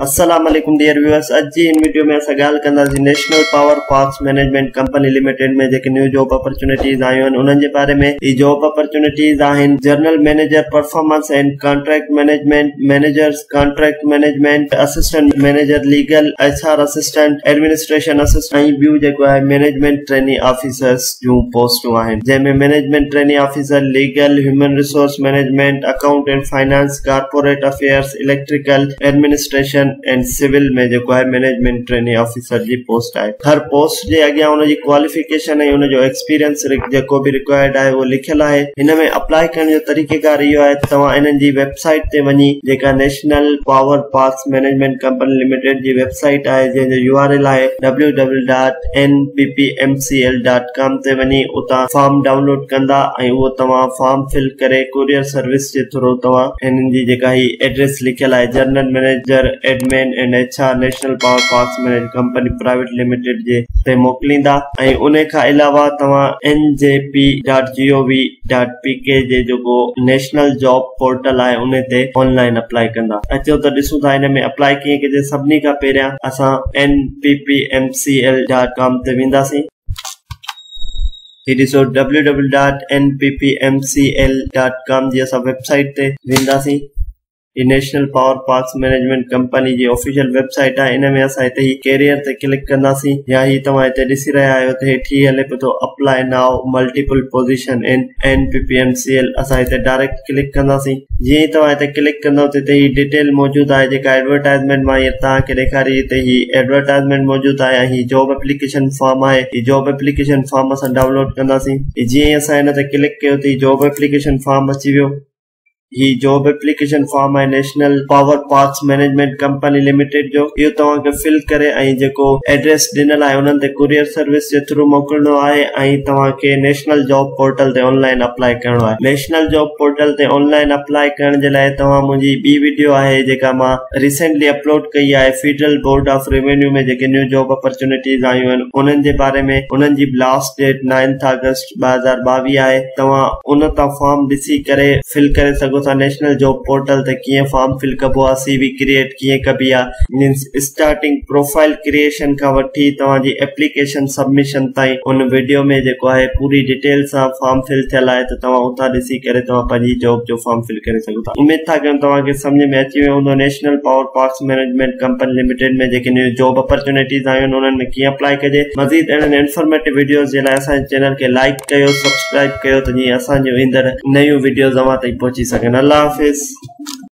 السلام عليڪم dear viewers اڄ جي ان وڊيو ۾ اسان ڳالهه ڪنداسين national power parks management company limited ۾ جيڪي نيو جاب اپرچونيٽيز آيون آهن انهن جي باري ۾ هي جاب اپرچونيٽيز آهن general manager performance and contract management managers contract management assistant manager legal H R assistant administration assistant ۽ ٻيون جيڪو آهي مينيجمينٽ ٽريني آفيسرز جون پوسٽون آهن جنهن ۾ management trainee officer legal human resource management account and finance corporate affairs, electrical, administration and civil ۾ جيڪو آهي management trainee officer جي post آهي. هر پوسٽ جي اڳيان ان جي ڪواليفڪيشن ۽ ان جو ايڪسپيرينس جيڪو به رڪوائرڊ آهي اهو لکيل آهي. هن ۾ اپلائي ڪرڻ جو طريقيڪار اهو آهي ته توهان انهن جي ويب سائيٽ تي وڃي جيڪا national power parks management company limited جي ويب سائيٽ آهي جنهن جو يو آر ايل آهي www.nppmcl.in ڪام تي وڃي اتان فارم ڊائونلوڊ ڪندا ۽ اهو توهان فارم فل ڪري ڪوريئر سروس جي ٿرو توهان هنن جي جيڪا هي ائڊريس لکيل آهي general manager admin and H R national power parks management company private limited جي تي موڪليندا ۽ ان کان علاوه توهان N G P dot G O V dot P K جي جيڪو نيشنل جاب پورٽل آهي ان تي آن لائن اپلائي ڪندا اچو ته ڏسون ٿا هن ۾ اپلائي ڪيئن ڪجي سڀني کان پهريان اسان N P P M C L dot com تي وينداسين هي ڏسو www.nppmcl.com جي اسان ويب سائيٽ تي وينداسين هي national power parks management company جي آفيشل ويب سائيٽ آهي ان ۾ اسان هتي هي ڪيريئر تي ڪلڪ ڪنداسين يا هي توهان هتي ڏسي رهيا آهيو ته هيٺ هي هلي پيو ٿو apply now multiple position in NPPMCL اسان هتي ڊائريڪٽ ڪلڪ ڪنداسين جيئن ئي توهان هتي ڪلڪ ڪندو ته هتي هي ڊيٽيل موجود آهي جيڪا ايڊورٽائزمينٽ مان هيئر توهان کي ڏيکاري هتي هي ايڊورٽائزمينٽ موجود آهي ۽ هي جاب اپليڪيشن فارم آهي هي جاب اپليڪيشن فارم اسان ڊائونلوڊ ڪنداسين جيئن ئي اسان هن تي ڪلڪ ڪيو ته هي جاب اپليڪيشن فارم اچي ويو هي جاب اپليڪيشن فارم آهي national power parks management company limited جو اهو توهان کي فل ڪري ۽ جيڪو ايڊريس ڏنل آهي انهن تي ڪوريئر سروس جي ٿرو موڪلڻو آهي ۽ توهان کي نيشنل جاب پورٽل تي آن لائن اپلائي ڪرڻو آهي نيشنل جاب پورٽل تي آنلائن اپلاء ڪرڻ جي لاء توهان منهنجي ٻي وڊيو آهي جيڪا مان ريسينٽلي اپلوڊ ڪئي آهي فيڊرل بورڊ آف ريونيو ۾ جيڪي نيو جاب اپرچونيٽيز آيون آهن انهن جي باري ۾ انهن جي لاسٽ ڊيٽ نائنٿ آگسٽ ٻه هزار ٻاويهه آهي توهان ان تان فارم ڏسي ڪري فل ڪري سگهو ٿا نيشنل جاب پورٽل تي ڪيئن فارم فل ڪبو آهي سي وي ڪريئيٽ ڪيئن ڪبي آ مينس اسٽارٽنگ پروفائل ڪريئيشن کان وٺي توهان جي ايپليڪيشن سبمشن تائين ان وڊيو ۾ جيڪو آهي پوري ڊيٽيل سان فارم فل ٿيل آهي ته توهان اتان ڏسي ڪري توهان پنهنجي جاب جو فارم فل ڪري سگهو ٿا اميد ٿا ڪيون توهان کي سمجهه ۾ اچي ويو هوندو نيشنل پاور پارڪس مينجمينٽ ڪمپني لميٽيڊ ۾ جيڪي نيون جاب اپرچونيٽيز آيون آهن انهن ۾ ڪيئن اپلائي ڪجي مزيد اهڙن انفارميٽو وڊيوز جي لاء اسان جي چينل کي لائڪ ڪيو سبسڪرائب ڪيو ته جيئن اسان جون ايندڙ نيون وڊيوز اوهان تائين پهچي سگهن الله حافظ